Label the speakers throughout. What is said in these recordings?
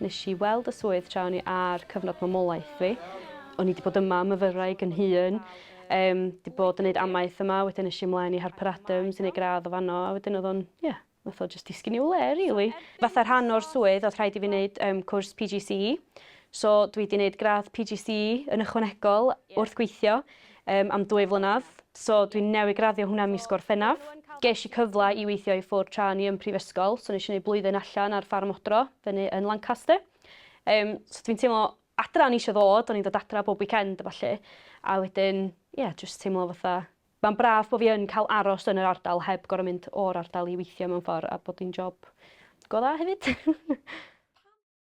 Speaker 1: Nes i weld y swydd tra o'n i ar cyfnod mamolaeth fi. O'n i 'di bod yma am y fyraig yn hŷn. Yym, 'di bod yn neud amaeth yma, wedyn es i ymlaen i Harper Adams i neud gradd o fanno, a wedyn o'dd o'n, ie, nath o jyst disgyn i'w le rili. Fatha rhan o'r swydd o'dd rhaid i fi neud yym cwrs PGCE, so dwi 'di neud gradd PGCE yn ychwanegol wrth gweithio. Yym, am dwy flynedd. So, dwi'n newydd graddio hwnna mis Gorffennaf. Gesh i cyfle i weithio i ffwr tra o'n i yn prifysgol, so nesh i neud blwyddyn allan ar ffarm odro fyny yn Lancaster. Yym, so dwi'n teimlo adra o'n i isio ddod, o'n i'n dod adra bob weekend a ballu. A wedyn, ie, jyst teimlo fatha ma'n braf bo' fi yn ca'l aros yn yr ardal heb gor'o' mynd o'r ardal i weithio mewn ffor a bod hi'n job go dda hefyd.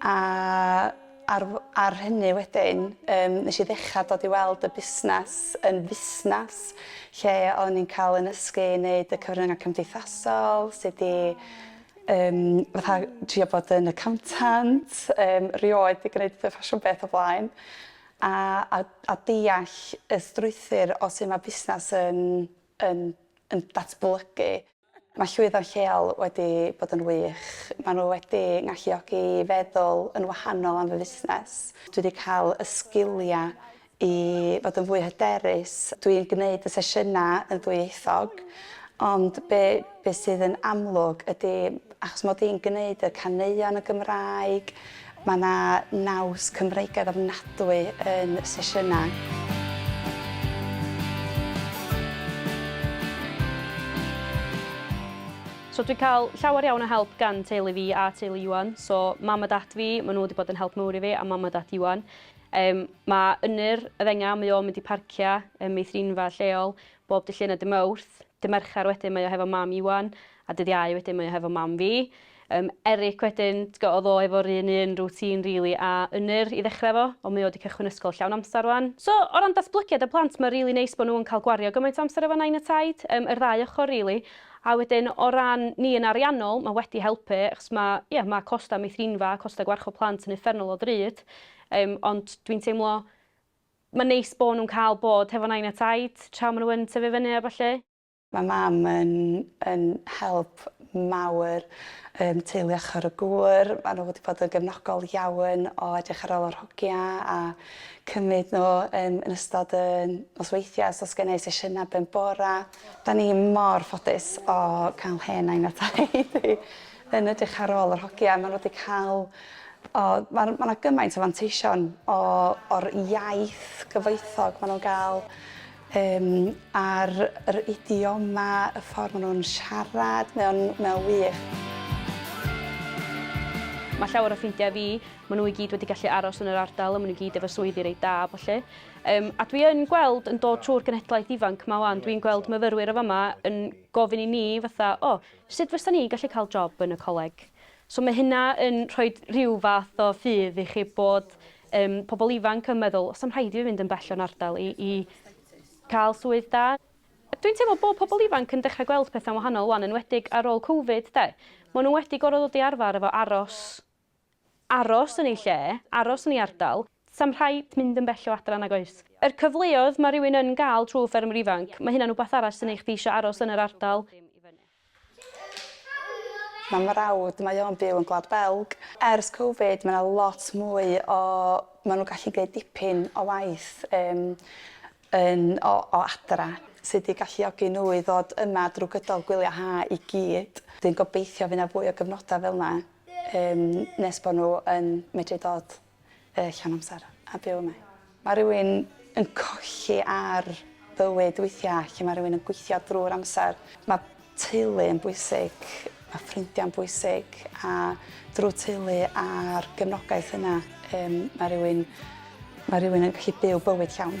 Speaker 2: A ar ar hynny wedyn yym nesh i ddechra dod i weld y busnas yn fusnas lle o'n i'n ca'l 'yn nysgu i neud y cyfrynga cymdeithasol sud i yym fatha trio bod yn accountant yym rioed 'di gneud y ffasiwn beth o blaen a a a deall y strwythur o su' ma' busnas yn yn yn datblygu. Mae llwyfan lleol wedi bod yn wych. Maen nhw wedi ngalluogi i feddwl yn wahanol am fy fusnes. Dwi wedi cael y sgiliau i fod yn fwy hyderus. Dwi'n gwneud y sesiynau yn ddwyieithog ond be be sydd yn amlwg ydy achos mod i'n gwneud y caneuon yn Gymraeg Mae yna naws Cymreigaidd ofnadwy yn y sesiynau.
Speaker 1: So dwi'n cael llawer iawn o help gan teulu fi a teulu Iwan. So mam a dad fi, maen nhw wedi bod yn help mawr i fi a mam a dad Iwan. Yym, mae Ynyr, y ddengau, mae o'n mynd i parciau ym meithrinfa lleol bob Dydd Llun a Dydd Mawrth. Dydd Mercher wedyn mae o hefo mam Iwan A dydd Iau wedyn mae o hefo mam fi. Yym Eric wedyn t'go' odd o efo'r un un routine rili a Ynyr i ddechre efo ond mae o 'di cychwyn ysgol llawn amsar rŵan. So o ran datblygiad y plant ma' rili neis bo' nhw yn ca'l gwario gymaint o amser efo Nain a Taid. Yym yr ddau ochor rili. A wedyn o ran ni yn ariannol ma' wedi helpu achos ma' ie ma' costa meithrinfa a costa gwarchod plant yn uffernol o ddrud. Yym ond dwi'n teimlo ma'n neis bo' nhw'n ca'l bod hefo Nain a Taid tra ma' nhw yn tyfu fyny a ballu. Mae mam
Speaker 2: yn yn help mawr yym teulu ochor y gŵr. Maen nhw wedi bod yn gefnogol iawn o edrych ar ôl yr hogia a cymryd nhw yn yn ystod y nosweithiau os oes gen i sesiynau ben bora. Dan ni mor ffodus o cael hen nain a taid i yn edrych ar ôl yr hogia. Maen nhw wedi cael o ma' ma' 'na gymaint o fanteision o o'r iaith gyfoethog maen nhw'n gael Yym, ar yr idioma, y ffordd maen nhw'n siarad, mae o'n, mae o'n wych.
Speaker 1: Mae llawer o ffrindiau fi, maen nhw i gyd wedi gallu aros yn yr ardal a maen nhw gyd efo swyddi reit da a ballu. Um, a dwi yn gweld yn dod trwy'r genhedlaeth ifanc ma wan, dwi'n gweld myfyrwyr o fama yn gofyn i ni fatha, o, oh, sut fysa ni gallu cael job yn y coleg? So mae hynna yn rhoi rhyw fath o ffydd i chi bod Yym, pobl ifanc yn meddwl, oes am rhaid i fi fynd yn bell o'n ardal i i cael swydd da? Dwi'n teimlo bod pobl ifanc yn dechrau gweld pethau'n wahanol wan, enwedig ar ôl Covid, de. Maen nhw wedi gorfod dod i arfer efo aros, aros yn eu lle, aros yn ei ardal. Does am rhaid mynd yn bell o adra nag oes? Yr cyfleoedd mae rhywun yn gael trwy Ffermwr Ifanc, mae hynna'n wbath arall sy'n neu' chdi isio aros yn yr ardal.
Speaker 2: Mae mrawd, mae o'n byw yn Gwlad Belg. Ers Covid mae 'na lot mwy o... ma' nhw'n gallu gwneud dipyn o waith yym yn o o adra sy 'di galluogi nhw i ddod yma drwy gydol gwyliau ha' i gyd. Dwi'n gobeithio fydd 'na fwy o gyfnodau fel 'na yym nes bod nhw yn medru dod. Yy llawn amser a byw yma. Ma' rywun yn colli ar bywyd weithia' lle ma' rywun yn gweithio drw'r amser. Ma' teulu yn bwysig, ma' ffrindia'n bwysig a drw teulu a'r gefnogaeth yna yym ma' rywun ma' rywun yn gallu byw bywyd llawn.